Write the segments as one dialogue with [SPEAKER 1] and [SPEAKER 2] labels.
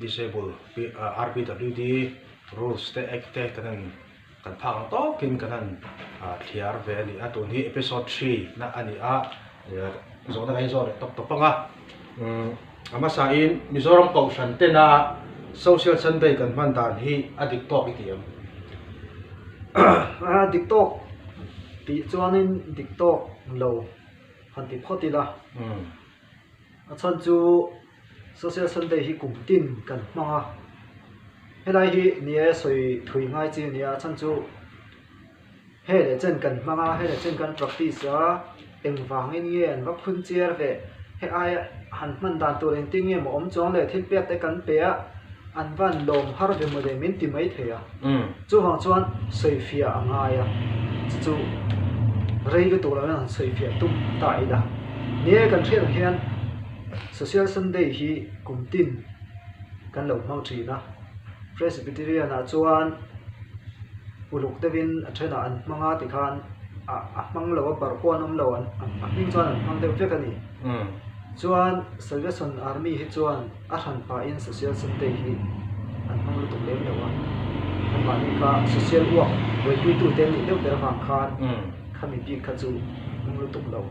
[SPEAKER 1] Disabled RBWD rules te act te kan han kan phak ang tawk in kan han thliar ve a ni a, tun hi episode three na a ni a, zawhna kan zawh leh tawp tawp ang a, a hmasa in Mizoram Kohhran te na social sunday kan hman dan hi a dik tawk i ti ang? A
[SPEAKER 2] dik tawk tih chuan in dik tawk lo han ti phawt ila. A chhan chu Social Sunday hi kum tin kan hmang a, helai hi ni e sawi thui ngai chi a ni a, a chhan chu he leh chen kan hmang a, he leh chen kan practice a, engvangin nge an va phun chiar ve, he aia han hman dan tur engtin nge mawh awm chuang le, thil piak te kan pe a, An van lawm har ve mawdei min ti mai thei a, chuvang chuan sawifiah a ngai a, chu chu rei lutuk lo in han sawifiah tum ta ila. Ni e kan hriatrah hian Social Sunday hi kum tin kan lo hmang thin a, Presbyterian ah chuan uluk deuh in a then ah an hmang a ti khan a hmang lo a bar pawh an awm lo a hming chuan an hmang deuh vek a ni. Chuan Salvation Army hi chuan. A hran pahin Social Sunday hi an hmang lutuk lem lo a, anmahni kha Social uak buaipui-tute an nih deuh ber vang khan kha mibik kha chu hmang lutuk lo.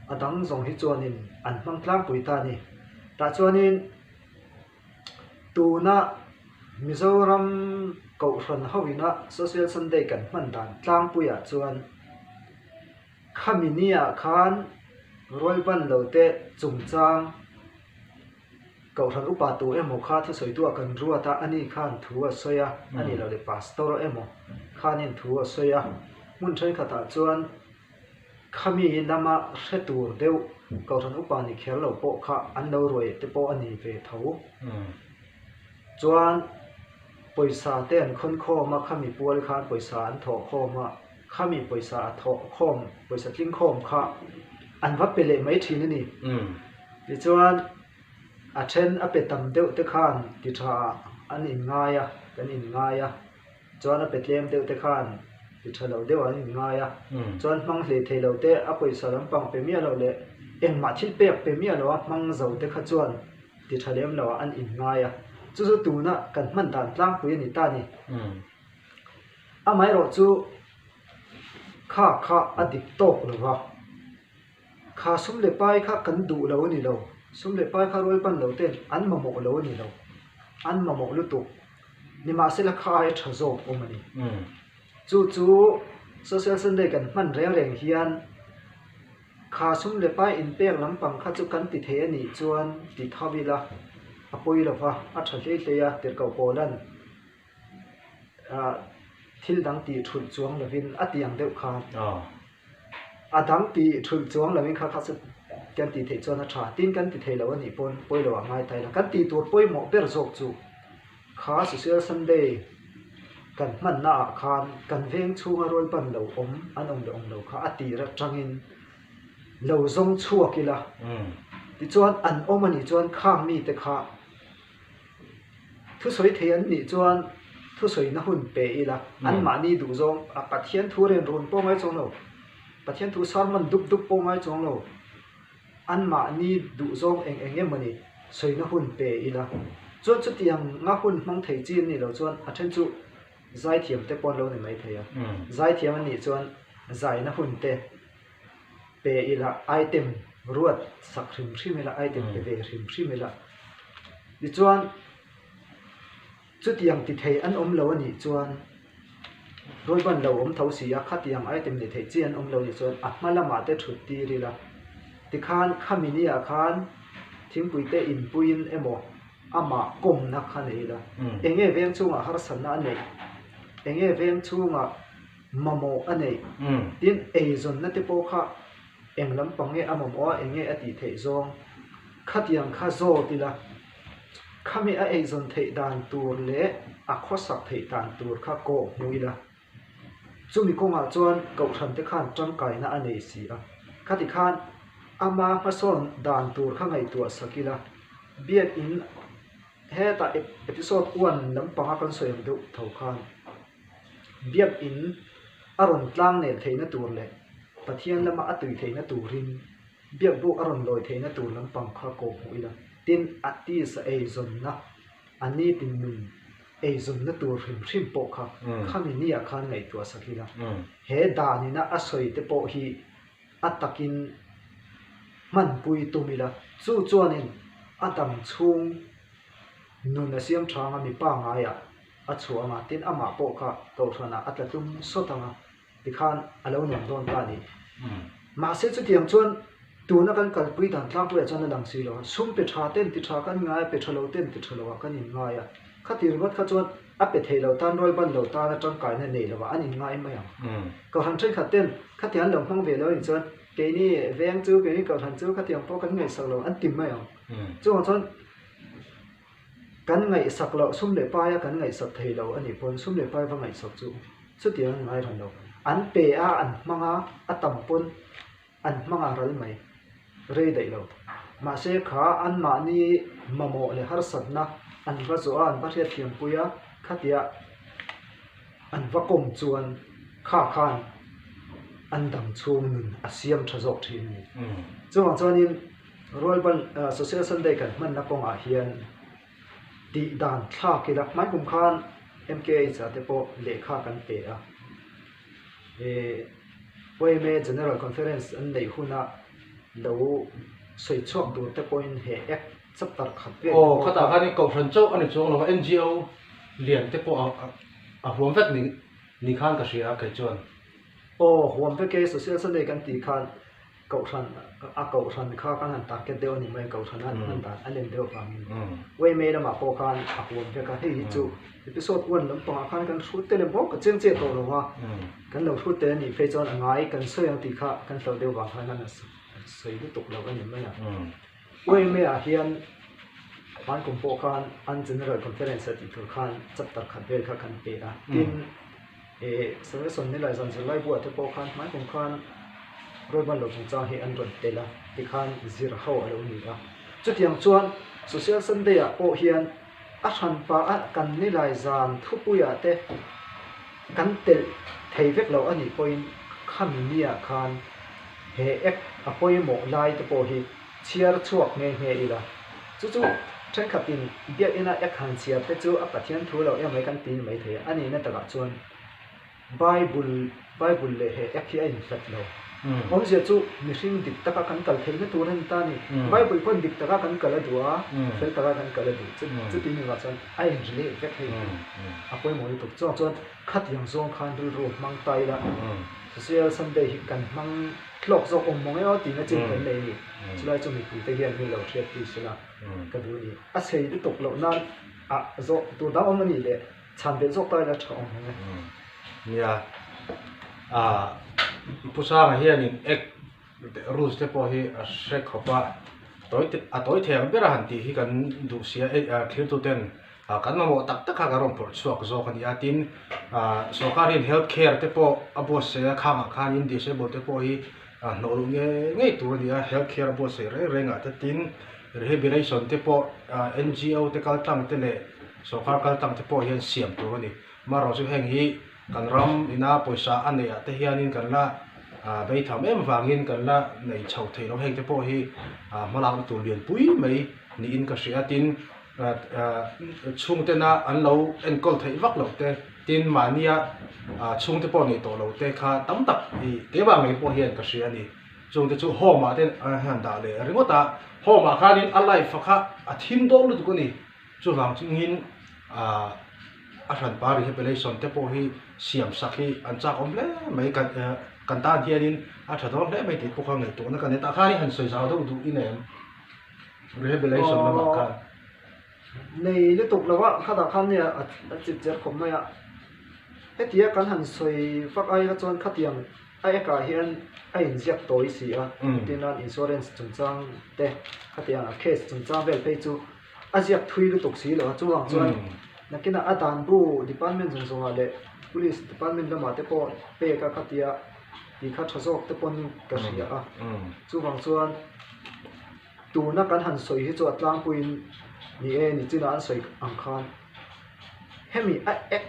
[SPEAKER 2] A dang zawng hi chuanin an hmang tlangpui ta a ni. Tah chuanin tuna Mizoram Kohhran ho ina Social Sunday kan hman dan tlangpuiah chuan, Khami ni ah khan rawi pan lo te chungchang Kohhran upa tur emaw kha thusawitu a kan ruat a, ani khan thu a sawi a, ani lo leh pastor emaw khanin thu a sawi a. Hmun thenkhat ah chuan Khami lam a hre tur deuh Kohhran upa ni kher lo pawh kha an lo ruai te pawh a ni ve tho. Chuan pawisa te an khawn khawm a, Khami pual khan pawisa an thawh khawm a. Khami pawisa a thawh khawm, pawisa tling khawm kha an va pe leh mai thin a ni. Tichuan, a then a pe tam deuh te khan ti thaah an inngai a, kan inngai a. Chuan a pe tlem deuh te khan ti tha lo deuhah an inngai a. Chuan hmang hle thei lo te, a pawisa lampang pe miah loh leh engmah thil pek pe miah loh a hmang zo te kha chuan ti tha lem loah an inngai a. Chu chu tuna kan hman dan tlangpui a ni ta ni. Amaherawh chu kha kha a dik tawk lo va, kha sum leh pai kha kan duh lo a ni lo, sum leh pai kha rual pan lo ten an mamawh lo a ni lo, an mamawh lutuk. Nimahsela kha hi tha zawk awm a ni. Chu chu Social Sunday kan hman reng reng hian kha sum leh pai inpek lampang kha chu kan ti thei a nih chuan ti tho ila a pawi lo va, a tha hle hle a, tirhkoh pawl an. Thil dang tih ṭhulh chuang lovin a ti ang deuh kha. A dang tih ṭhulh chuang lovin kha kha chu kan tih theih chuan a ṭha. Tin kan ti thei loh anih pawn pawi lo ah ngai ta ila. Kan tih tur pawimawh ber zawk chu kha Social Sunday kan hmanna ah khan kan veng chhunga rawlpan lo awm an awm leh awm lo kha a tir aṭangin lo zawng chhuak ila. Tichuan an awm anih chuan khang mite kha. Thusawi thei an nih chuan thusawina hun pe ila, anmahni duhzawng a Pathian thu ren run pawh ngai chuang lo, Pathian thu sermon dup dup pawh ngai chuang lo, anmahni duhzawng eng eng emawni sawina hun pe ila. Chuan chutianga hun hmang thei chi an nih loh chuan a then chu zaithiamte pawh an lo ni mai thei a, zaithiam an nih chuan zaina hunte pe ila item ruat sak hrim hrim ila item pe ve hrim hrim ila tichuan chutiang ti thei an awm lo a nih chuan rawi ban lo awm tho si a khatiang item ni thei chi an awm lo nih chuan a hma lamah te thut tir ila tikhan khami ni ah khan thingpui te in pui in emaw amah kawm na kha nei ila eng nge veng chungah harsatna a neih eng nge veng chungah mamawh a nei. Tin, eizawnna te pawh kha eng lampang nge a mamawh a, eng nge a tih theih zawng? Khatiang kha zawt ila, khami a eizawn theih dan tur leh a khawsak theih dan tur kha kawh hmu ila. Chumi kawngah chuan Kohhran te khan tangkaina a nei si a. Khati khan ama hmasawn dan tur kha ngaihtuah sak ila. Biakin hetah episode one lampanga kan sawi ang deuh tho khan. Biakinn a rawn tlang nel theihna tur leh Pathian lama a tui theihna turin biak buk a rawn lawi theihna tur lampang kha kawh hmuh ila. Tin, artist a eizawnna, a ni tin nun eizawnna tur hrim hrim pawh kha khami ni ah khan ngaihtuah sak ila. He dan ina a sawi te pawh hi a takin hmanpui tum ila. Chu chuanin a dang chhung nun a siamthranga mipa ngaiah A chhuah ang a, tin amah pawh kha Kohhranah a tla tlum sawt ang a, tikhan a lo nuam dawn ta ni. Mahse chutiang chuan tuna kan kalpui dan tlak ruia chuan a lang si lo a, sum pe tha ten ti tha kan ngai a, pe tha lo ten ti tha lo ah kan inngai a. Khatir vat kha chuan a pe thei lo tan, rual ban lo tan a tangkaina nei lo ah an inngai mai ang. Kohhran thenkhat ten khatiang an lo hmang ve lo ni chuan keini veng chu, keini Kohhran chu khatiang pawh kan ngaihsak lo an ti mai ang. Chungah chuan. Kan ngaihsak loh, sum leh paia kan ngaihsak thei lo a nih pawn, sum leh pai va ngaihsak chu chutiang an ngaihran lo. An pe a, an hmang a, a tam pawn an hmang a ral mai, rei daih lo. Mahse kha anmahni mamawh leh harsatna an va zawh a, an va hriatthiampui a, khatia an va kawm chuan kha khan an dang chhung nun a siam tha zawk thin a ni. Chuvang chuanin. Royal Bal Social Sunday kan hmanna kawngah hian tih dan thlak ila, hmankum khan MKH ah te pawh lehkha kan pe a, OMA General Conference an neih huna lo sawi chhuak tur te pawhin he Act chapter khat vel awm bawk a. Aw, khatah khan kohhran
[SPEAKER 1] chauh a ni chuang lo a, NGO lian te pawh a huam vek ni khan ka hria kei chuan. Aw, huam
[SPEAKER 2] vek e, Social Sunday kan tih khan. Kohhran a kohhran kha kan han target deuh a nih mai, kohhran a an hman dan a nem deuh vang in. Way May lamah pawh khan a huam vek a, hei hi chu episode one lampang ah khan kan hrut tel em bawk a chiang chiah tawh lo a, kan lo hrut tel a nih phei chuan a ngai kan sawi ang tih kha kan hlauh deuh vang khan a sawi lutuk lo a ni mai a. Khawi May ah hian Hman kum pawh khan an General Conference a tih tur khan chapter khat vel kha kan peh a, tin Samuel Sawmnei leh Zan Zirlai Bua te pawh khan Hman kum khan Roy Banlo chungchang hi an rawn tel a tikhan zir ho a lo ni a. Chutiang chuan Social Sunday ah pawh hian. A hran pa a kan ni lai zan thupuia te kan telh thei vek lo a nih pawhin khami mi ah khan he act a pawimawh lai te pawh hi chhiar chhuak nghe nghe ila. Chu chu thenkhat in Biakina act han chhiar te chu a Pathian thu lo em mai kan ti ni mai thei a. A nihna takah chuan Bible, Bible leh he app hi a inhlat lo. Awmzia chu mihring dik taka kan kal theihna tur a ni ta ni. Bible pawhin dik taka kan kal a duh a, fel taka kan kal a duh. Chuti ni vah chuan a inri leh vek thei hi a pawimawh lutuk. Chuvang chuan khat yang zawng khan rilru hmang ta ila Social Sunday hi kan hmang hlawk zawk awm mawng emaw tihna chin kan nei a ni. Chulai chu mipuite hian min lo hriat tih sila ka duh a ni. A sei lutuk loh nan ah zawh tur dang awm a nih leh. Chhan ve zawk takin a tha awm e. Nia,
[SPEAKER 1] aah, Pu Sanga hianin act rules te pawh hi a hre khawp a, tawi te, a tawi thei ang ber a han tih hi kan duh si a, ei, a thirtuten kan mamawh tak tak kha kan rawn pawrh chhuak zawk a ni a, tin, aah, sawrkar hian health care te pawh a buatsaih a, khangah khanin disable te pawh hi, a hnawhruh nge ngei tur a ni a health care a buatsaih reng reng ah te tin rehabilitation te pawh ahh ngo te kal tlang te leh sawrkar kal tlang te pawh hian siam tur a ni mahro chu heng hi kan ram in a pawisa a neih ah te hian in kan la ahh bei tham em avang in kan la nei chho theih loh heng te pawh hi ahh hmalak na tur lian pui mai niin ka hria tin-- chhungtena an lo enkawl theih vak lo te, tin mahnia chhungte pawh nei tawh lo te kha tam tak i kei vang ngei pawh hian ka hria a ni. Chhungte chu home ah te hian dah leh ringawt a, home ah khanin a life a kha a thim dawh lutuk a ni. Chuvang chungin a hran pa rehabilitation te pawh hi siam sak hi an chak awm hle mai, kan tan hianin a tha dawn hle mai tih pawh kha ngaihtuahna ka ni a, tah khanin han sawi zau deuh duh i nem. Revelation lamah khan nei
[SPEAKER 2] lutuk lo a, khata khan nge a chip cher khawp mai a? Hetia kan han sawi fak aia chuan khatiang a ekah hian a inziak tawi si a, tin a insurance chungchang te khatiang a case chungchang vel phei chu a ziak thui lutuk si lo a, chuvang chuan nakinah a danbu department zawng zawngah leh police department lamah te pawh pek a khatia. tih kha tha zawk te pawhin ka hria a chuvang chuan tuna kan han sawi hi chu a tlangpuiin ni e ni chinah an sawi ang khan hemi a ek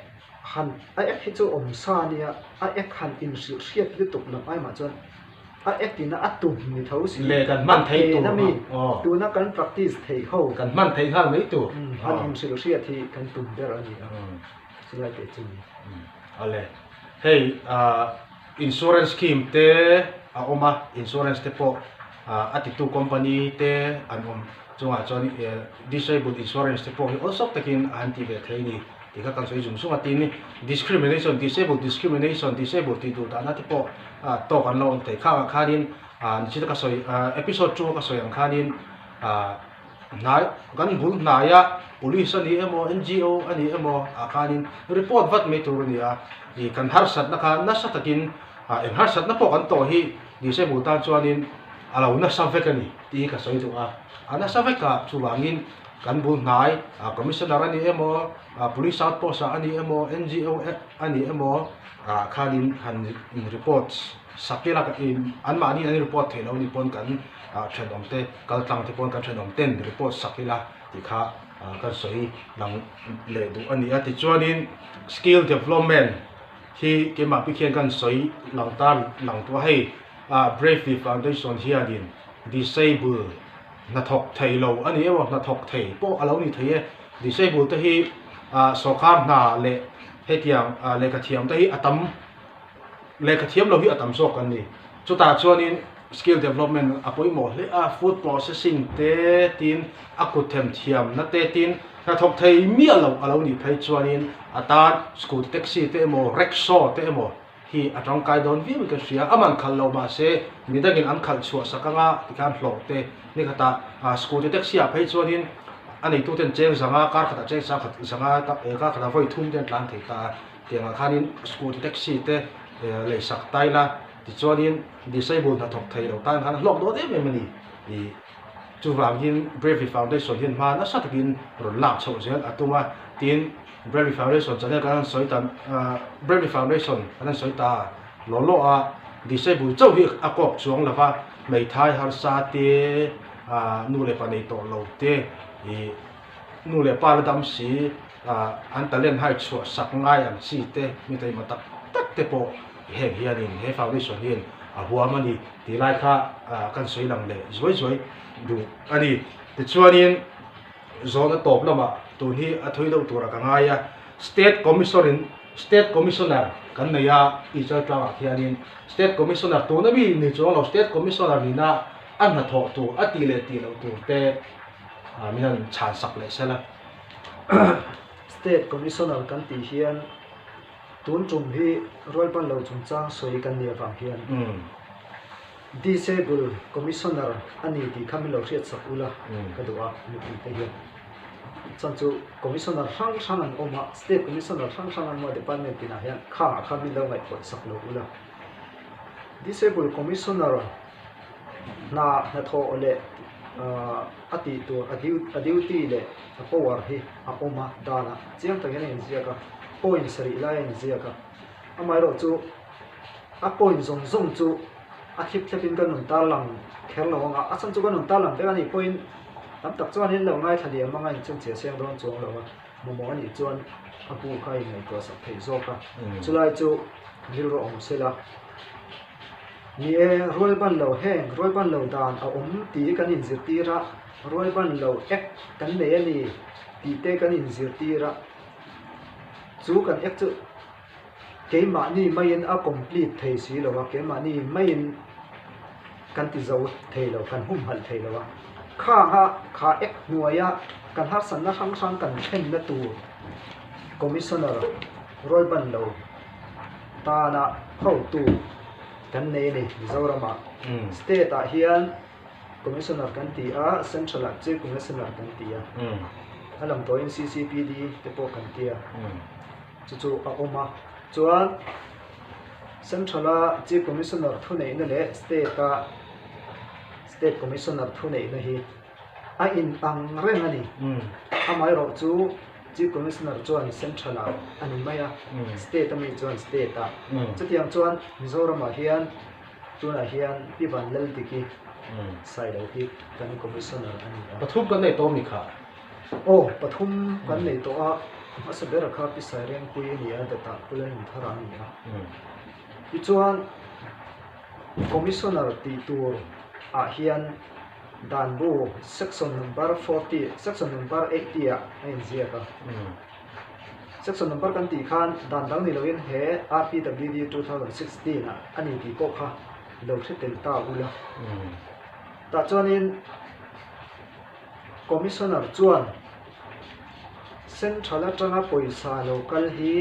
[SPEAKER 2] han a ek hi chu awm sa nia a ek han inhrilh hriat lutuk loh ai mah chuan a ek ina a tum ni tho si leh kan hman thei tur ang a
[SPEAKER 1] aw tuna
[SPEAKER 2] kan
[SPEAKER 1] practice
[SPEAKER 2] thei ho kan hman thei nghal mai
[SPEAKER 1] tur han inhrilh hriat
[SPEAKER 2] hi kan tum ber a ni ang. Chulai teh chu ni. A le.
[SPEAKER 1] Hei insurance scheme te a awm a, insurance te pawh a titu company te an awm chungah chuan disabled insurance te pawh hi awl sawk takin a han tih ve thei a ni tih kha kan sawi zum zung a. Tin, discrimination, disabled discrimination, disabled tih duh dahna te pawh talk an lo awm thei khangah khanin ni chu te ka sawi, episode two a ka sawi ang khanin, Hnai, kan bul hnaia police a nih emaw, NGO a nih emaw ah khanin report vat mai tur a ni a, ih kan harsatna kha nasa takin ah eng harsatna pawh kan tawh hi disabled tan chuanin a lo nasa vek a ni tih hi ka sawi duh a, a nasa vek a chuvangin kan bul hnai ah commissioner a nih emaw, ah police outpost ah a nih emaw, NGO a nih emaw ah khanin han in reports. Sakela ka in anmahni an report theih lo ni pawn kan thenawm te, kaltlang te pawn kan thenawm ten report sak ila tih kha kan sawi lang leh duh a ni a. Tichuanin skill development hi keimahpi khian kan sawi lang ta lang tawh a, hei Bravely Foundation hianin Disable hnathawk thei lo a ni emaw hnathawk thei pawh a lo ni thei e, Disable te hi sawrkar hna leh hetiang lehkha thiam te hi a tam, Lehkha thiam lo hi a tam zawk kan ni. Chutah chuanin skill development a pawimawh hle a, food processing te tin a kutthem thiamna te tin hnathawk thei miah loh a lo nih phei chuanin a tan scooty taxi te emaw rickshaw te emaw hi a tangkai dawn viau i ka hria. A man khalh lo mahse mi dangin an khalh chhuah sak anga ti khan hlawh te ni kha tah a scooty taxi ah phei chuanin a neitute an cheng zang a, kar khatah cheng sang khat zang a, kar khatah vawi thum te an tlan thei ta a. Tiangah khanin scooty taxi te lei sak tai la, tichuanin disabled hnathawk thei lo tan khan a hlawk dawn em em a ni. Chuvangin Bravely Foundation hian hma nasa takin rawn lak chhoh zel a tum a, tin Bravely Foundation channel kan han sawi ta Bravely Foundation kan han sawi ta law law a, disabled chauh hi a kawk chuang lo va, hmeithai harsa te, nu leh pa nei tawh lo te, nu leh pa la dam si, An talent hai chhuah sak ngai ang chi te mi taima tak tak te pawh ti heng hian in he foundation hi in a huam a ni tih lai kha kan sawi lang leh zuai zuai duh a ni. Tichuan in zona tawp lamah tun hi a thui deuh turah ka ngai a, State Commission in State Commissioner kan nei a Teacher tang ah hian in State Commissioner tuna mi ni chuang lo State Commissioner ni na a hnathawh tur a tih leh tih loh tur te min han chhan sak leh sela.
[SPEAKER 2] State Commissioner kan tih hian tun tum hi rual pan lo chungchang sawi kan nih avang hian Disable Commissioner a ni tih kha min lo hriat sak ula ka duh a mipuite hian. Chuan chu Commissioner hrang hrang an awm a, State Commissioner hrang hrang an awm a Department pinah hian khangah kha min lo ngaihpawt sak loh ula. Disable Commissioner. Hna hnathawh aw le a tih tur a duty leh a power hi a awm a danah chiang takin a inziak a, points rih laia inziak a. Amaherawh chu a point zawng zawng chu a thlip thlep in kan rawn tarlang kher lo ang a, a chhan chu kan rawn tarlang vek a ni, point tam tak chuan in lo ngaithla leh mang a inchhunchhiah siam dawn chuang lo a, mamawh anih chuan a bu kha a inneihtuahsak theih zawk a, chulai chu rilru a awm sela. Ni e, rualban lo heng, rualban lo dan a awm ti i kan inzirtir a, rualban lo ek kan nei a ni tih te kan inzirtir a. Chu kan ek chu keimahni maiin a complete thei si lo a, keimahni maiin kan ti zo thei lo, kan humhalh thei lo a. Khanga kha ek hnuaia kan harsatna hrang hrang kan thlenna tur Commissioner rualban lo, tana hotu kan nei a ni Mizoram ah state ah hian commissioner kan ti a central ah chief commissioner kan ti a a lang tawh in CCPD te pawh kan ti a chu chu a awm a chuan central a chief commissioner thuneihna leh state a state commissioner thuneihna hi A intang reng a ni. Amaherawh chu Chief Commissioner chuan Central ah a ni mai a, State ami chuan State ah. Chutiang chuan Mizoram ah hian tunah hian Pi Van Lal Diki sai lo hi kan Commissioner a ni a. Pathum kan nei tawh a mi kha? Aw, pathum kan nei tawh a. Hmasa ber kha Pi Sairengpui a ni a, Datah Kulanumthara a ni a. Pi chuan Commissioner tih tur ah hian. Dan bu section number forty section number eighty ah a inziak a. Section number kan tih khan dan dang ni loin he RPWD two thousand sixteen ah a ni tih pawh kha lo hre tel ta ul a. Tah chuanin Commissioner chuan Central atanga pawisa lo kal hi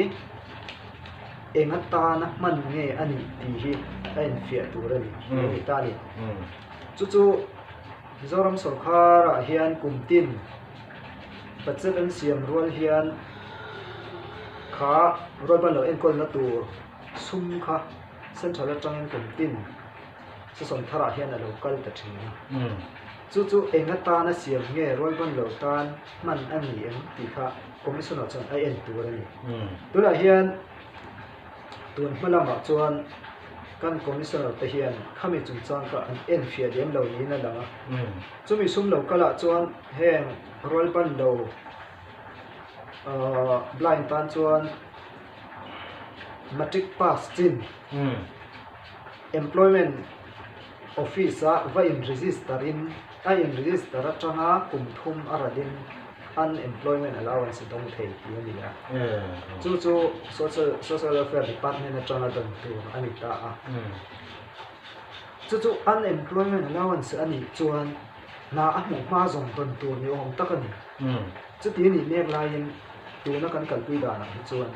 [SPEAKER 2] eng atana hman nge a nih tih hi a enfiah tur a ni, a ni ta a ni. Chu chu Mizoram sawrkharah hian kum tin pa che kan siam rual hian kha rual ban lo enkawlna tur sum kha Central atangin kum tin, Chu sawmtharah hian a lo kal ta thin a. Chu chu enga tana siam nge rualbawn lo tan hman a ni em tih kha Commissioner chuan a en tur a ni. Tunah hian tun hma lamah chuan kan Commissioner te hian khami chungchang kha an en fiah lem lo niin a lang a. Chumi sum lo kalah chuan heng rualbawn lo blind tan chuan Matric pass chin. Employment Office ah va in register in a in register atanga kum thum a ratin Unemployment Allowance a dawng thei tih a ni a, chu chu Social Welfare Department atanga dawn tur a ni ta a. Chu chu Unemployment Allowance a nih chuan hna a hmuh hma zawng dawn tur ni awm tak a ni. Chuti a nih mek laiin tuna kan kalpui danah hi chuan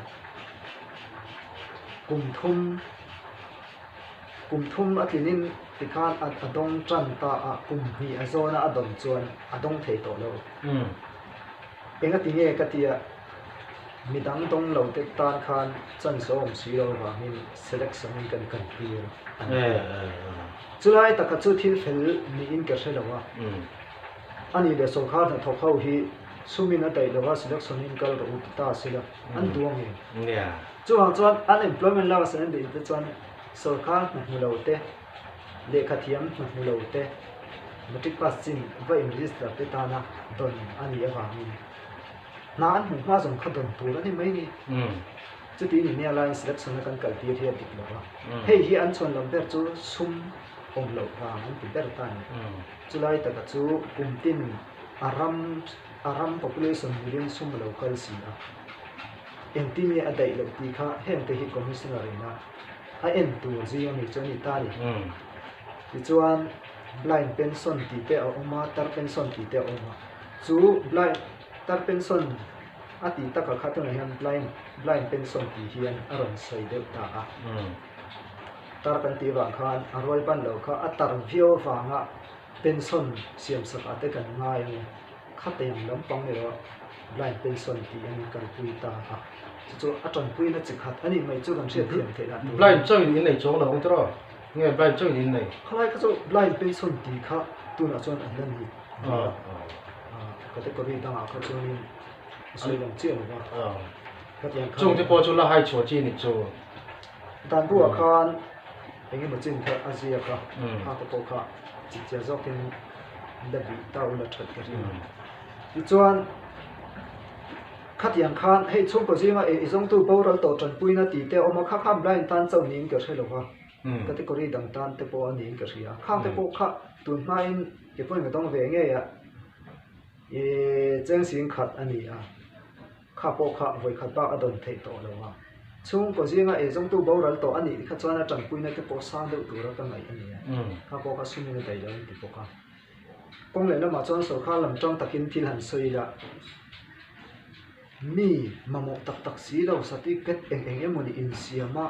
[SPEAKER 2] kum thum, Kum thum a tlinin tikhan a a dawng tan ta a, kum hnih a zawn a a dawm chuan a dawng thei tawh lo. Enga ti nge ka ti a, mi dang dawng lo te tan khan chanhlawm si lo vangin selection in kan kan tir a ni. Chu lai taka chu thil fel niin ka hre lo a, a nih leh sawrkar hnathawk ho hi sumin a daih lo a selection in kal rawh u ti ta si lo. an duh a ni. Chuvang chuan unemployment lak a sen duh te chuan sorkar hnahmu lo te, lehkha thiam hnahmu lo te, matric pass chin va in register te tana dawn a nih avangin hna an hmuh hma zawng kha dawn tur a ni mai ni. Chuti ni nia laiin selection a kan kal tir hi a dik lo a, hei hi an chhawnlam ber chu sum awm loh vang an ti ber ta ni. Chulai taka chu kum tin a ram. A ram population million sum lo kal si a, engtin nge a daih loh tih kha hengte hi Commissioner in a a en tur zing a mi chu a ni ta ni. Tichuan Blind Pension tih te a awm a, Tar Pension tih te a awm a, chu Blind Tar Pension a tih takah kha tunah hian Blind Blind Pension tih hian a rawn sawi deuh ta a. Tar kan tih vang khan a rual ban lo kha a tar viau vanga, Pension siam sakah te kan ngai a ni. Khate ang lampang erawh Blind Pension tih an inkalpui ta a. Chu chu a tanpuina chi khat a nih mai chu kan hriatthiam theihna tur a ni. Blind chauhin in nei chuang
[SPEAKER 1] lo ang tiraw? Nge Blind chauhin in nei? Khalai kha chu Blind
[SPEAKER 2] Pension tih kha tunah chuan an la nih duh a. Category dangah kha chuanin a sawi lo chiah lo va. Hetiang khan. Chungte pawh chu la hai chhuah
[SPEAKER 1] chi a nih chu. Dan
[SPEAKER 2] bulah khan. Eng emaw chin kha a ziak a, a ka pawh kha chik chiah zawk in la bih ta u la that ka ring a. Tichuan khatiang khan hei chhungkaw zinga e i zawngtu boral tawh tanpuina ti te a awm a, kha khan Brian tan chauh niin ka hre lo a, category dang tan te pawh a niin ka hria. Khang te pawh kha tun hmain ke pawhin ka dawng ve ngei a, i cheng sing khat a ni a. Kha pawh kha vawikhat bak a dawn theih tawh lo a, chhung kaw zinga ei zawngtu boral tawh a nih kha chuan a tanpuina te pawh sang deuh tura ka ngaih a nia, kha pawh kha sum in a dai lo an ti bawk a. Kawng leh lamah chuan sorkar lam ṭang takin thil han sawi ila, mi mamawh tak tak si lo, certificate eng eng emaw ni insiam a,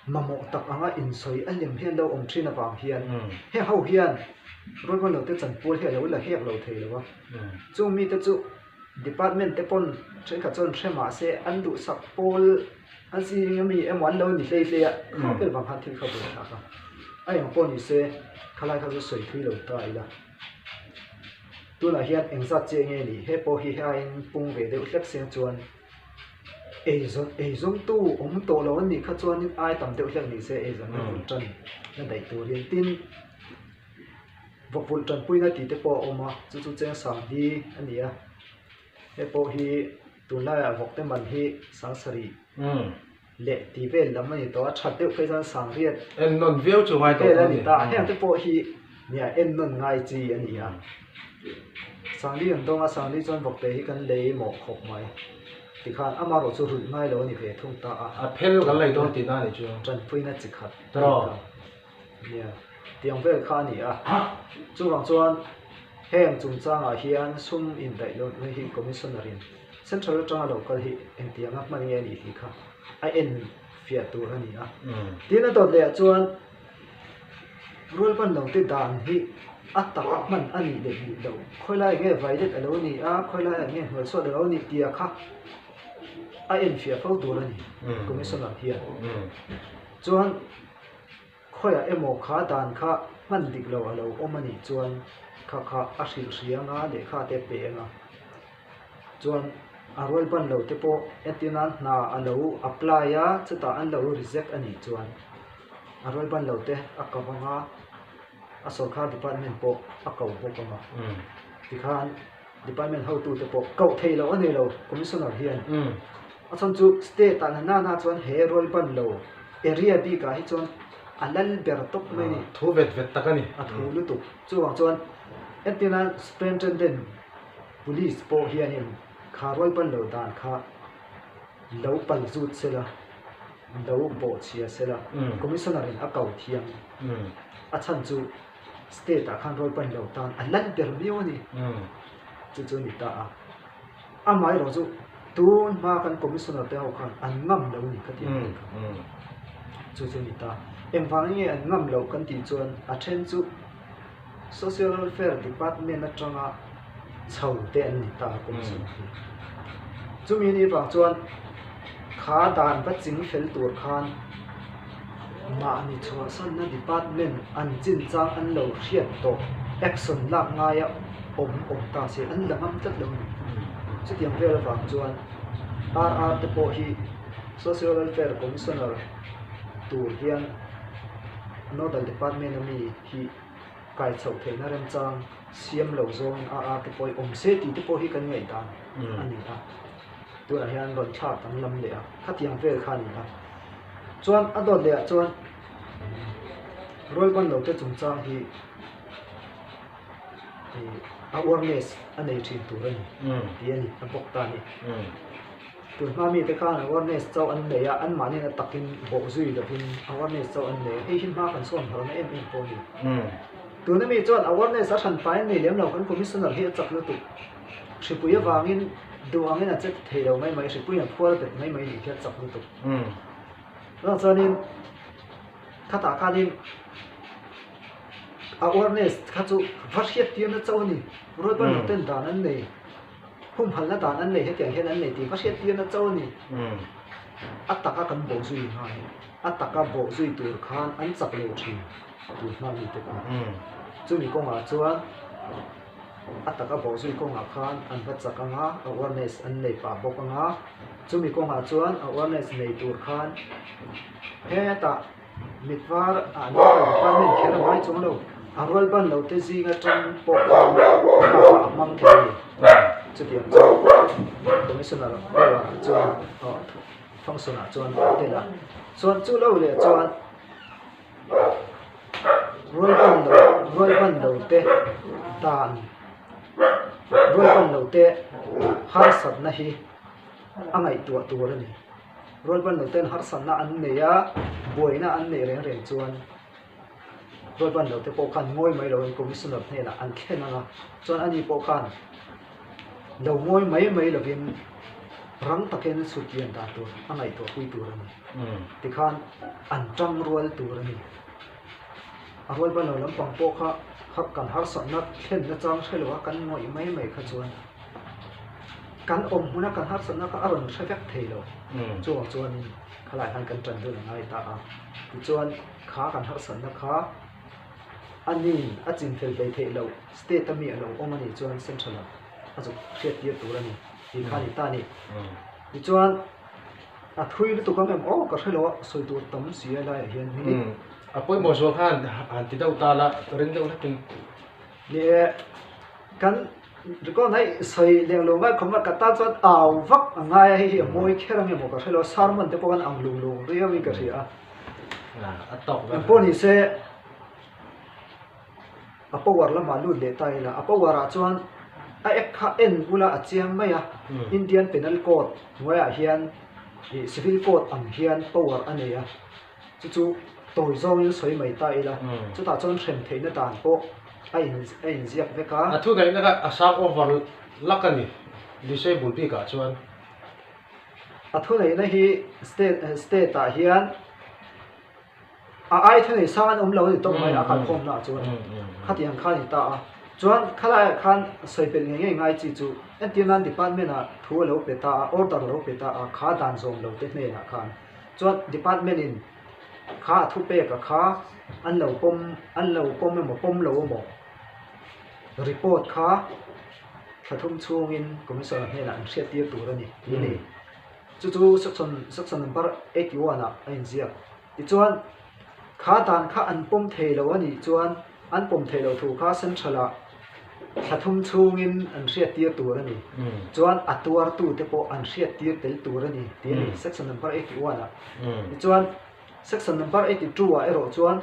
[SPEAKER 2] mamawh tak anga insawi a hnem hian lo awm thin avang hian heng ho hian Ruahman lo te chanpual hi a lo la hek lo thei lo a, chung mi te chu department te pawn thenkhat chuan hre mah se an duhsak pawl an sining ami emaw an lo ni hlei hlei a, kha vel vang khan thil kha ve a tha kha a eng pawh ni se kha lai kha chu sawi thui lo ta ila tunah hian engzat che nge ni he pawh hi heng in pung ve deuh hlek se chuan. Eizawntu awm tawh lo an nih kha chuan in ai tam deuh hlek ni se eizawnna vun tan na daih tur in tin vawkvulh tanpui na tih te pawh a awm a chu chu cheng sang hi a ni a hepawh hi tunlai ah vawkte man hi sangsarih.
[SPEAKER 1] leh tih
[SPEAKER 2] vel lam a ni tawh a, that deuh phei chuan sangriat en nawn viau chu ngai
[SPEAKER 1] tawh a ni, ta heng te pawh
[SPEAKER 2] hi ni a en nawn ngai chi a ni a, sangri an dawng a sangri chuan bawk te hi kan lei mawh khawp mai ti khan ama erawh chu rulh ngai lo a ni ve thung ta a, a phel kan lei
[SPEAKER 1] dawn tihna a nih chu, tanpui na chi khat,
[SPEAKER 2] tawrh.
[SPEAKER 1] Nia,
[SPEAKER 2] tiang vel kha a ni a. Chuvang chuan heng chungchangah hian sum indaihdawn na hi Commissioner-in Central atanga lo kal hi engtianga hman nge a nih tih kha a en fiah tur a ni a. Tin a dawt
[SPEAKER 1] lehah
[SPEAKER 2] chuan rual pannote dan hi a taka hman a nih leh bik loh, khawilai ah nge vailet a lo nih a, khawilai ah nge hnuaisuat a lo nih tia kha a en fiah fo tur a ni Commissioner hian.
[SPEAKER 1] Chuan.
[SPEAKER 2] Khawiah emaw kha dan kha hman dik lo a lo awm a nih chuan kha kha a hrilh hriang a, lehkha te peng a. Chuan a rual ban lo te pawh e ti nan hna a lo apply a, chutah an lo reject a nih chuan a rual ban lo te a ka vang a, a sawrkar department pawh a ko bawk ang a.
[SPEAKER 1] Tikhan.
[SPEAKER 2] Department hotute pawh koh thei loh a nei lo, Commissioner hian a
[SPEAKER 1] chhan chu
[SPEAKER 2] state-a na nana chuan he rual ban lo area bik ah hi chuan a lal ber tawp mai a ni. Thu vet vet tak a ni.
[SPEAKER 1] A thu lutuk.
[SPEAKER 2] Chuvang chuan entir nan Superintendent Police pawh hianin kha rual ban lo dan kha lo pal zut sel a, lo bawhchhia sel a, Commissioner in a kau thiam
[SPEAKER 1] a chhan chu
[SPEAKER 2] State ah khan rawlpain lo tan a lal ber miau a ni.
[SPEAKER 1] Chu chu a ni
[SPEAKER 2] ta a. Amaherawh chu tun hma kan Commissioner te ho khan an ngam lo ni ka ti a ni kha.
[SPEAKER 1] Chu
[SPEAKER 2] chu a ni ta. Engvang enge an ngam lo kan tih chuan a then chu Social Welfare Department atanga. chho te an ni ta a kum zawng hi. Chumi ni vang chuan kha dan va ching fel tur khan mahni chhuahsanna department an chinchang an lo hriat tawh action lak ngai a awm awm ta si an la ngam tlat lo ni. Chutiang vel avang chuan RR te pawh hi Social Welfare Commissioner tur hian nodal department ami hi kai chhoh theihna remchang siam lo zawngin a arte pawhin awm se tih te pawh hi kan ngaih dan a ni a, tunah hian rawn thlak dang lam leh a khatiang vel kha a ni a, chuan a dawt lehah chuan rualba'n lote chungchang hi awareness a nei thin tur a ni tih a ni a bawk ta hi. Tui hma mite khan awareness chauh an nei a, anmah nena takin bawh zui lovin awareness chauh an nei a, hei hi hma kan sawn harh na em em pawh a ni. Tuna mi chuan awareness a hran faiin nei lem lo kan Commissioner hi a chak lutuk. Hripui avangin duh angin a che ta thei lo mai mai, hripuiin a phuar bet mai mai nih hi a chak lutuk. Chutah chuanin khatah khanin awareness kha chu va hriat tirna chauh a ni, rual banner ten dan an nei. humhalna dan an nei hetiang hian an nei tih ka hriat tir na cho a ni. A taka kan bawh zui nghal a, a taka bawh zui tur khan an chak lo thin tui nghal mi te pawh a ni. Chumi kawngah chuan a taka bawh zui kawngah khan an va chak anga awareness an nei pah bawk anga, chumi kawngah chuan awareness nei tur khan hetah Mitvar ah naupang department kher a ngai chuang lo, a rual ban lo te zing atang pawh khan a hmang thei a ni. Chutiang chuan Commissioner Bola chuan Thongsunah chuan a tel a, chuan chu lo leh chuan rual ban lo rual ban lo te dan rual ban lo te harsatna hi a ngaihtuah tur a ni. Rualbannote'n harsatna an nei a, buaina an neih reng reng chuan Rualbannote pawh khan ngawi mai loin Commissioner hnenah an thlen ang a, chuan ani pawh khan lo ngawi mai mai lovin rang takin sutlian dan tur a ngaihtuah pui tur a ni. Tikhan an tang rual tur a ni. A rualbanlo lampang pawh kha kan harsatna thlenna chang hre lo a, kan ngawi mai mai kha chuan. Kan awm hmuna kan harsatna kha a rawn hre vek thei lo. Chungah chuan khalai khan kan tan dawn a ngai ta a. Tichuan kha kan harsatna kha a ni a chim fel ve theih loh, state a mi a lo awm a nih chuan central ah a zuk hriat tir tur a ni tih kha a ni ta ni. Tichuan a thui lutuk ang em aw ka hre lo a, sawi tur tam si a laiah hian minute. A pawimawh zawng
[SPEAKER 1] khan han ti deuh ta la, ring deuh hlekin. Nih kan
[SPEAKER 2] Record hi sawi leh lo ngai khawp mai ka tan chuan au vak a ngai a hei hi a mawi kher ang emaw ka hre lo a sermon te pawh kan ang lung lung riau in ka hria
[SPEAKER 1] a eng pawh ni se
[SPEAKER 2] a power lamah lut leh ta ila a power ah chuan a ek kha en bula a chiang mai a Indian penal code hnuaiah hian civil code ang hian power a nei a. Chu chu tawi zawngin sawi mai ta ila, chutah chuan hrem theihna dan pawh a in a inziak vek a. A thuneihna ka a
[SPEAKER 1] sang over lak a ni, disable bikah chuan.
[SPEAKER 2] A thuneihna hi state state ah hian a ai thuneih sang an awm lo a ni tawk mai a kalkhawmna chuan, khati ang kha a ni ta a. Chuan kha laiah khan sawi belh ngei ngei ngai chi chu entirnan department ah thu a lo pe ta a, order a lo pe ta a, kha dan zawm lo te hnenah khan. Chuan department in kha a thu pek a kha an lo pawm an lo pawm emaw pawm lo emaw report kha thla thum chhung in commissioner hnenah an hriat tir tur a ni tih ni. Chu chu section section number eighty one ah a in ziak. Tichuan kha dan kha an pawm thei lo a nih chuan, An pawm theih lo thu kha Central-ah thla thum chhungin an hriattir tur a ni, chuan a tuartute pawh an hriattir tel tur a ni tih a ni Section Number eighty one ah. Tichuan, Section Number eighty two ah erawh chuan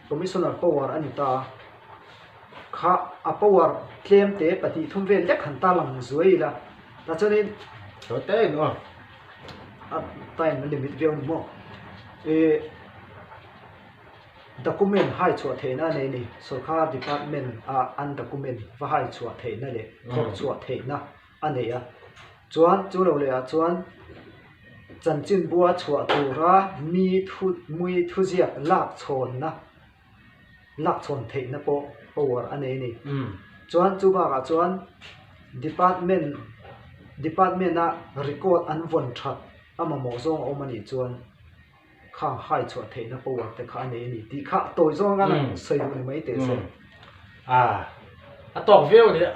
[SPEAKER 2] Commissioner power a ni ta a, kha a power tlemte pahnih thum vel dek han tarlang zuai ila, tah chuanin
[SPEAKER 1] a
[SPEAKER 2] time a limit viau ni maw? Document haichhuah theihna nei ni, Sorkar Department a an document va haichhuah theihna leh vawk chhuah theihna a nei a, chuan chu lo lehah chuan chanchinbua chhuah tura mi thu mui thuziak lakchhawnna lakchhawn theihna pawh power a nei ni. Chuan chu bakah chuan Department Department a record an vawn that a mamawh zawng a awm a nih chuan, kha hai chhuah theihna power te kha a nei a ni tih kha tawi zawng a sawi duh ni mai teh se. A
[SPEAKER 1] a tawk viau leh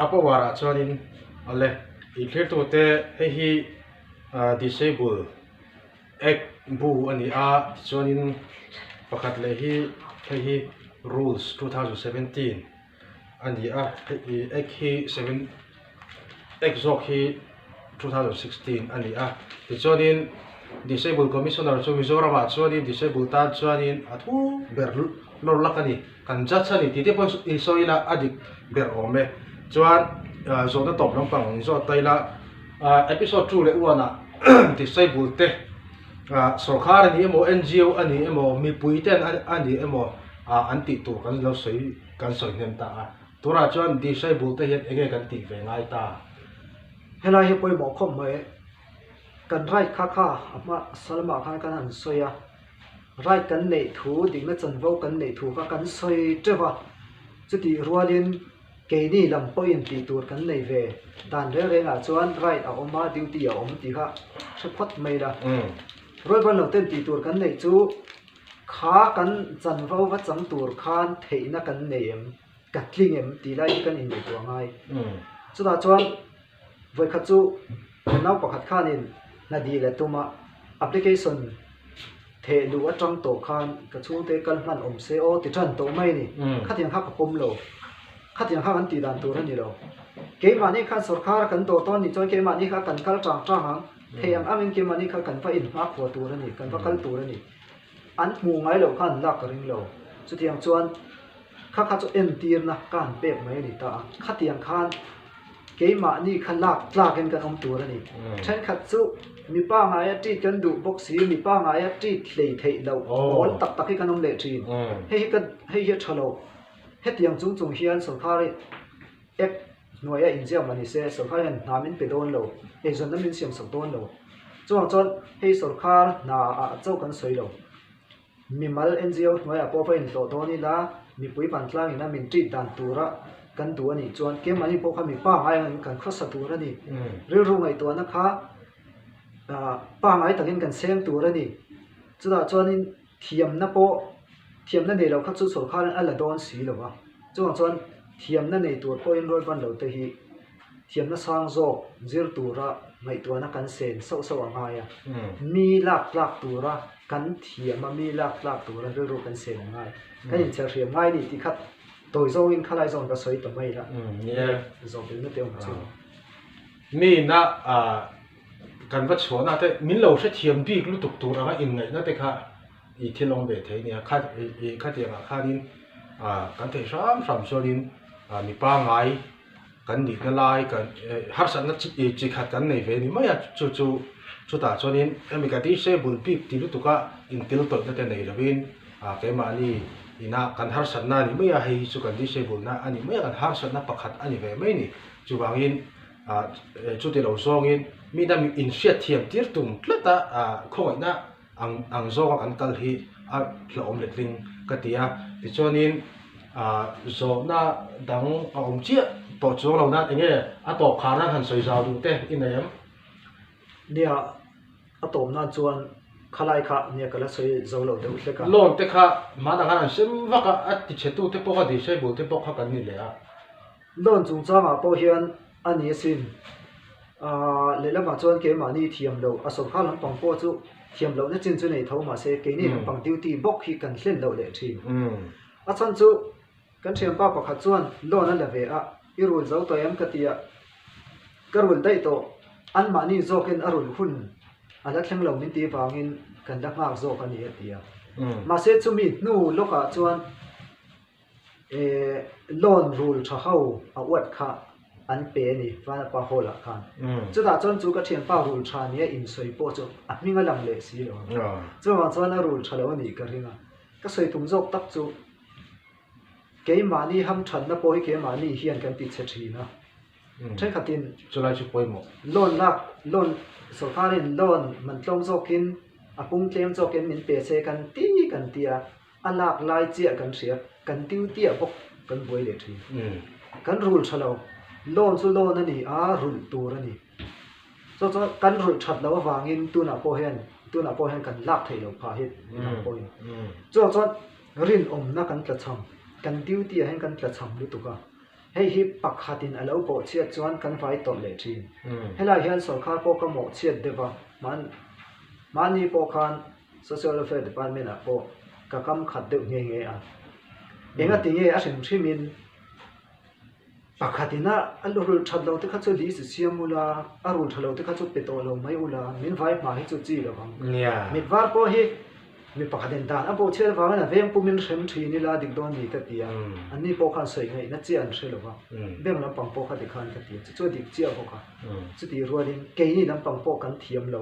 [SPEAKER 1] a power ah chuanin awle inthlirtute hei hi Disable Act bu a ni a tichuanin pakhat leh hi hei hi Rules two thousand seventeen. a ni a heti x hi seven x zawk hi two thousand sixteen a ni a tichuanin disabled commissioner chu mizoramah chuanin disabled tan chuanin a thu ber lawr lak a ni kan judge a ni tihte pawh i sawi ila a dik ber awm e chuan ah zawhna tawp lampang ang in zawt ta ila ah episode two leh one ah disabled te ah sorkar a nih emaw ngo a nih emaw mipui ten a nih emaw. a an tih tur kan lo sawi kan sawi hnem ta a, turah chuan disciple te hian enge kan tih ve ngai ta? Helai
[SPEAKER 2] hi pawimawh khawp mai e, kan right kha kha a hmah salmah khan kan han sawi a, right kan neih thu dikna chanvo kan neih thu kha kan sawi teuh a, chutih rualin keini lam pawhin tih tur kan nei ve dan reng reng ah chuan right a awm a duty a awm tih kha hre phawt mai la, Rual banlo ten tih tur kan neih chu, Kha kan chanvo va chang tur khan theihna kan nei em, ka tling em tih lai hi kan inneih tuah ngai. Chutah chuan vawikhat chu nau pakhat khanin hnadih leh tuma application theh luh atang tawh khan ka chhungte kal hman awm se aw ti tan tawh mai a ni. Khatiang kha ka pawm lo, khatiang kha kan tih dan tur a ni lo. Keimahni khan sorkar a kan dawt dawn nih chuan keimahni kha a kan kal tang tang ang. Thei ang ang in ke mani kha kan va in nghak khua tur a ni, kan va kal tur a ni. An hmuh ngai loh kha an lak ka ring lo. Chutiang chuan kha kha chu entirna ka han pek mai a ni ta a. Khatiang khan keimahni kha lak tlak in kan awm tur a ni. Thenkhat chu mi pangaia tit kan duh bawk si, mi pangaia tit hlei theih loh pawl tak tak hi kan awm leh thin. Hei hi ka hei hi a tha lo. Hetiang chung chung hian sorkar i act. hnuaia inziak mah nise sorkar hian hna min pe dawn lo eizawnna min siam sak dawn lo chungah chuan hei sorkar hna ah chauh kan sawi lo mimal ngo hnuaiah pawh va inhlawh dawn ila mipui ban tlangin a min treat dan tura kan duh anih chuan kemahin pawh kha mi pa ngai angin kan khawsa tur ani rilru ngaihtuahna kha pa ngai takin kan seng tur ani chutah chuanin. Thiamna pawh, thiamna nei lo kha chu sorkarin a la dawn si lo a, chungah chuan thiamna nei tur pawhin Ruatvan lo te hi thiamna sang zawk zir tura ngaihtuahna kan sen sauh sauh a ngai a, mi lak tlak tura kan thiam a, mi lak tlak tura rilru kan sen a ngai. Kan in cherhriam ngai ni tih khat tawi zawngin khalai zawng ka sawi ta mai la, zawk
[SPEAKER 1] engna te awm
[SPEAKER 2] chu.
[SPEAKER 1] Miin a. Kan va chhuah nate min lo hrethiam bik lutuk tur anga inngaih na te kha i thil awm ve thei nia, kha i khatiang ah khan in kan thei hram hram chuan in mi pangngai kan nih na lai harsat na chi khat kan nei ve ni mai a, chu chu chutah chuan in hemi ka disable bik ti lutuk a intil tawih na te nei lo in keimahni ina kan harsat na ni mai a hei hi chu kan disable na a ni mai a kan harsat na pakhat a ni ve mai a ni chuvang in. ah chuti lo zawngin mihna in hriatthiam tir tum tlat a ah khawngawihna ang ang zawng a kan kal hi a hlauhawm let hlim ka ti a tichuanin ah zawhna dang a awm chiah tawh chu lo nan eng nge a tawp khar nan han sawi zau duh te i nei ang
[SPEAKER 2] nia a tawp nan chuan khalai kha nia ka la sawi zo lo deuh hlek a loan te kha hmanah
[SPEAKER 1] khan an sem vak a a tichhe tute pawh a dirhriai bul te pawh kha kan ni leh a. Loan
[SPEAKER 2] chungchangah pawh hian a ni asin. Aaa, lehlamah chuan keimahni thiam loh a sawrkha lampang pawh chu thiam loh na chin chu nei tho mah se keini lampang duty bawk hi kan hlen loh leh thin. A chhan chu kan thianpa pakhat chuan loan a la ve a, i rul zo tawh em ka ti a, ka rul daih tawh anmahni zawkin a rul hun a la thleng lo min tih vangin kan la nghak zawk a ni a ti a. Mahse chumi hnu lawkah chuan. Ehh loan rul tha ho a uat kha an pe a ni Vanapa Hall ah khan. Chutah chuan chu ka thianpa rul tha nia insawi pawh chu a hming a lang leh si lo. Chuvang chuan a rul tha lo a nih ka ring a. Ka sawi tum zawk tak chu keimahni ham thatna pawh hi keimahni hian kan ti chhe thin a. Thenkhatin chulai chu pawimawh
[SPEAKER 1] loan lak loan
[SPEAKER 2] sorkarin loan man tlawm zawkin a pung tlem zawkin min pe che kan ti kan ti a. a lak lai chiah kan hriat, kan tiu tiah bawk kan buai leh thin. Kan rul tha lo, lawn chu lawn a ni a, rulh tur a ni. Chu chuan kan rulh that loh avangin tunah pawh hian, tunah pawh hian kan lak theih loh phah hi midang pawhin. Chuvang chuan rinawmna kan tla cham, kan tiu tiah hian kan tla cham lutuk a, hei hi pakhatin a lo pawh chhiat chuan kan vai tawrh leh thin. Helai hian sawrkar pawh ka mawh chhiat deuh a, mahni pawh khan Social Welfare Department ah pawh ka kam khat deuh nghe nghe a, enga ti nge a hrim hrim in pakhat in a rul that lo te kha chu lih si siam u la, a rul tha lo te kha chu pe tawh lo mai u la, min vai hma hi chu chi lo vang, mit var pawh hi mi pakhat in dan a buhchhiat avang in a veng pum in hrem thin i la dik dawn ni ka ti a, an ni pawh khan sawi ngaih na chiah an hre lo va, bank lam pang pawh kha ti khan ka ti a, chu chu a dik chiah bawk a, chu tih rual in keini lam pang pawh kan thiam lo.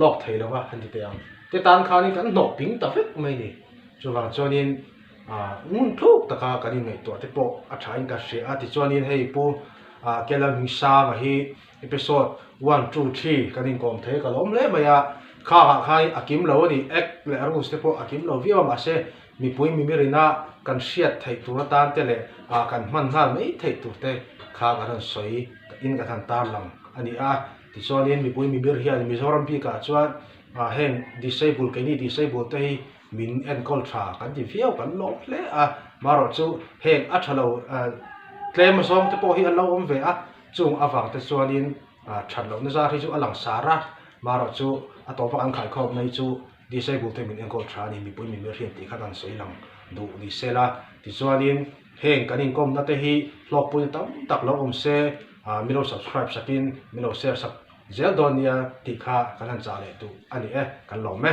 [SPEAKER 1] lawk thei lo va han ti teh ang te tan khanin kan hnawk ping ta vek mai ni chuvang chuanin ah ngun thuk taka kan inngaihtuah te pawh a tha in ka hria a tichuanin hei pu ah kela min sang a hi episode one two three kan inkawm thei ka la awm hle mai a khangah khanin a kim lo a ni act leh a rules te pawh a kim lo viau a mahse mipui mimirina kan hriat theih tur atan te leh ah kan hman nghal mai theih tur te kha kan rawn sawi in kan han tarlang a ni a. Tichuanin mipui mimir hian Mizoram bikah chuan a heng disable keini disable te hi min enkawl tha kan ti viau kan lawm hle a, marawh chu heng a thalo tlem zawng te pawh hi an lo awm ve a, chung avang te chuanin that lohna zar hi chu a langsar a, marawh chu a tawpah an khaikhawm mai chu Disabled te min enkawl tha a ni, mipui min rian tih kha kan sawi lang duh ni sela, tichuanin heng kan inkawmna te hi hlawkpuina tam tak lo awm se, ah milo subscribe sakin milo share sak zel dawn nia tih kha kan han chah leh duh a ni e, kan lawm e.